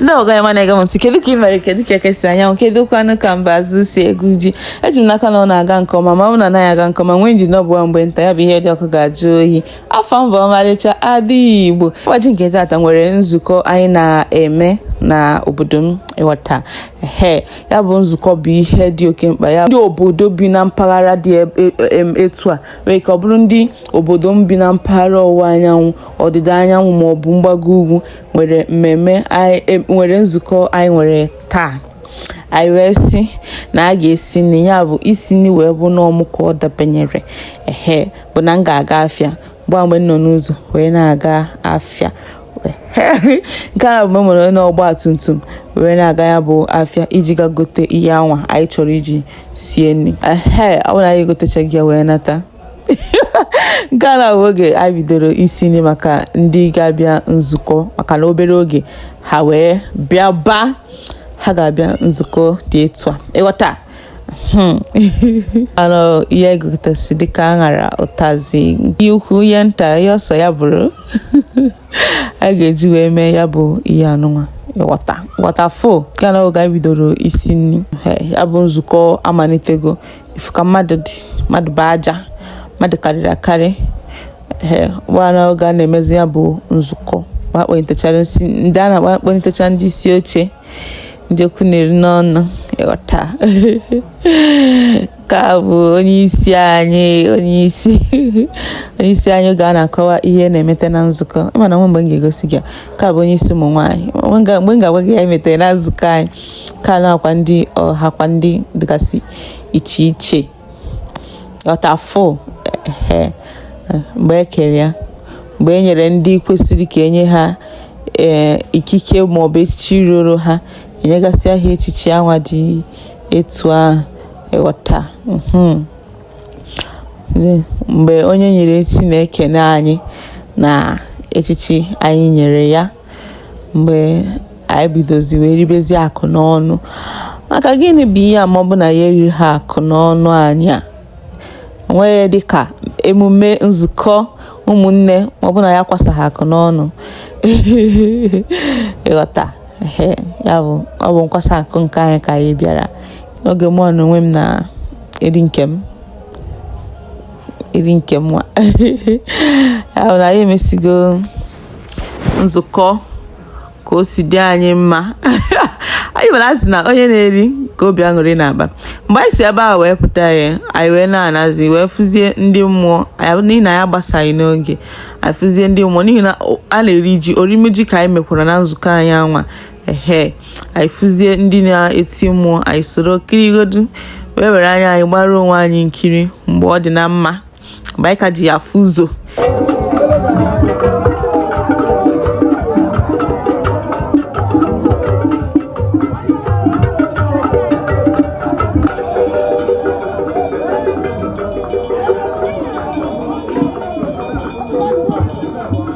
ndị ọga m na-ege m ntị kedu ka ị mere kedu ka eke si anya anwụ kedu kwanụ ka mbazụ si egwu ji eji m n'aka na ọ na-aga nke ọma ma ọ na anaghị aga nke ọma nwee ndidi ọ bụwa mgbe nta ya bụ ihe dị ọkụ ga-ajụ oyi afa m bụ ọmalịcha ada igbo ụbọchị nke taata nwere nzukọ anyị na-eme na obodo m ịghọta he ya bụ nzukọ bụ ihe dị oke mkpa ya ndị obodo bi na mpaghara dị e, e, e, etu a were ka ọ bụrụ ndị obodo m bi na mpaghara ọwụwa anyanwụ ọdịda anyanwụ ma ọ bụ mgbago ugwu nwere mmemme e, nwere nzukọ anyị nwere taa anyị wee sị na a ga-esi nri ya bụ isi nri wee bụ na ọ mụ ka ọ dabanyere ehe bụ na m ga-aga afịa gba mgbe m nọ n'ụzọ wee na-aga afịa nke a bụ mgbe m nọ n'ọgba tum tum wee na-aga ya bụ afịa iji ga gote ihe anwa anyị chọrọ iji sie nri ee ọ bụrụ na anyị egotechago ya wee nata nke a na-abụ oge anyị bidoro isi nri maka ndị ga-abịa nzukọ maka na obere oge ha wee bịaba ha ga-abịa nzukọ dị etu a ịghọta hmm. anụ ihe egotasị dịka aṅara ụtazị ihe ukwu ihe nta ihe ọ sọ ya bụrụ a ga-eji wee mee ya bụ ihe anụnwa ịghọta ghọta fụ nke a na-abụ oge anyị bidoro isi nri ya bụ nzukọ amalitego ị fụ ka mmadụ dị mmadụ bụ aja mmadụ karịrị akarị ee gba na oge a na-emezi ya bụ nzukọ wee kpọlitechara isi ndị a na-akpọ kpọlitecha ndị isi oche ndị okwu na-eri n'ọnụ ịghọta nke a bụ onye isi anyị onye isi onye isi anyị oge a na-akọwa ihe na-emete na nzukọ ị ma na e nwe mgbe m ga-egosi gị nke a bụ onye isi ụmụ nwaanyị mgbe m ga-agwa gị ihe e metere na nzukọ anyị ka nakwa ndị ọhakwa ndị dịgasị iche iche ịghọta fụ mgbe e kere ya mgbe e nyere ndị kwesịrị ka e nye ha ee eh, ikike maọbụ echichi ruru ha enyegasịa ha echichi anwa dị etu ahụ ịghọta hmm. mgbe onye e nyere echichi na-ekene anyị na echichi anyị nyere ya mgbe anyị bidozi wee ribezi aka n'ọnụ maka gịnị bụ ihe a ma ọ bụ na ya eriri ha aka n'ọnụ anyị a onweghị dị ka emume nzukọ ụmụnne ma ọ bụ na ya kwasa ha aka n'ọnụ ịghọta ya bụ ọ bụ nkwasa aka nke anyị ka anyị bịara n'oge mụ na onwe m na eri nke m eri nke m nwa ya bụ na anyị emesigo nzukọ ka o si dị anyị mma ị ma na a sị na onye na-eri ka obi aṅụrị na-aba mgbe anyị si ebe a wee pụta ya anyị wee na-anazi wee fụzie ndị mmụọ n'ihi na anyị agbasaghị n'oge anyị fụzie ndị mmụọ n'ihi na a na-eri ji orime ji ka anyị mekwara na nzukọ anyị anwa ehe anyị fụzie ndị na-eti mmụọ anyị soro kirigodu wee were anya anyị gbara onwe anyị nkiri mgbe ọ dị na mma mgbe anyị ka ji anya afụ ụzọ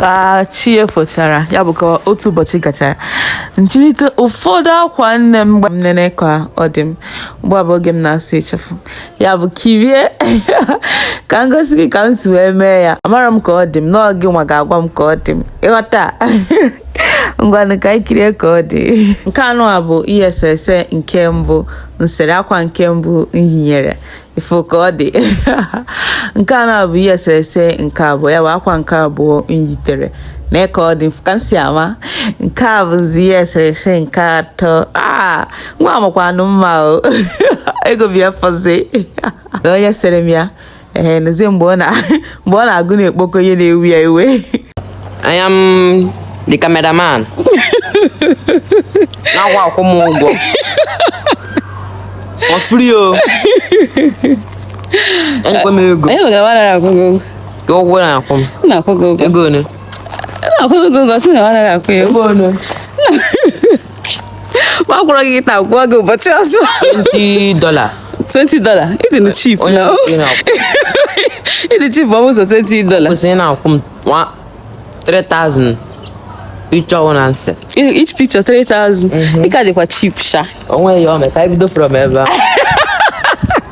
ka chi efochara ya bụ ka otu ụbọchị gachara nyirite ụfọdụ akwa nne m ka m nene ka ọ dị m ugbu a bụ oge m na-asa ịchafụ ya bụ kirie ka m gosi gị ka m si wee mee ya amara m ka ọ dị m ọ gịnwa ga-agwa m ka ọ dị m ịghọta ngwanụ ka anyị kirie ka ọ dị nke anụwa bụ ihe eserese nke mbụ nsere akwa nke mbụ nyitere ị fụ ka ọ dị nke anụwa bụ ihe eserese nke abụọ ya bụ akwa nke abụọ nyitere nee ka ọ dị ka m si ama nke a bụzi ihe eserese nke atọ aa ah! nwa amakwanụ mma o ego bịa fụzinụ onye sere m ya ee nụzie mgbe ọ na-agụ na-ekpokọ ihe na-ewe ya iwe I am the cameraman na a ga-akwụ m ụgwọ ọ free o enyekwa m ego ụgwọ na-akwụ m ego ole na-akwụ ego ole m akwụrọ gị taa kwụọ gị ụbọchị ọzọ 20 dollar 20 dollar ị dị na cheap onye na ị na-akwụ ị dị cheap ọ bụ ụzọ 20 dollar kwesịrị na-akwụ m nwa 3000 each one nsị each picture 3000 ị ka dịkwa cheap sha onwe ya ome ka anyị bido from ebe a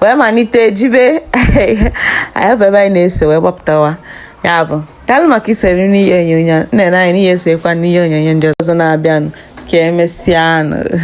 wee malite jebe anyị bụ ebe anyị na-ese wee gbapụtawa ya bụ daalụ maka isoro n'ihe onyonyo na-ene anya na ị ya-esokwa n'ihe onyonyo ndị ọzọ na-abịanụ ka emesịanụ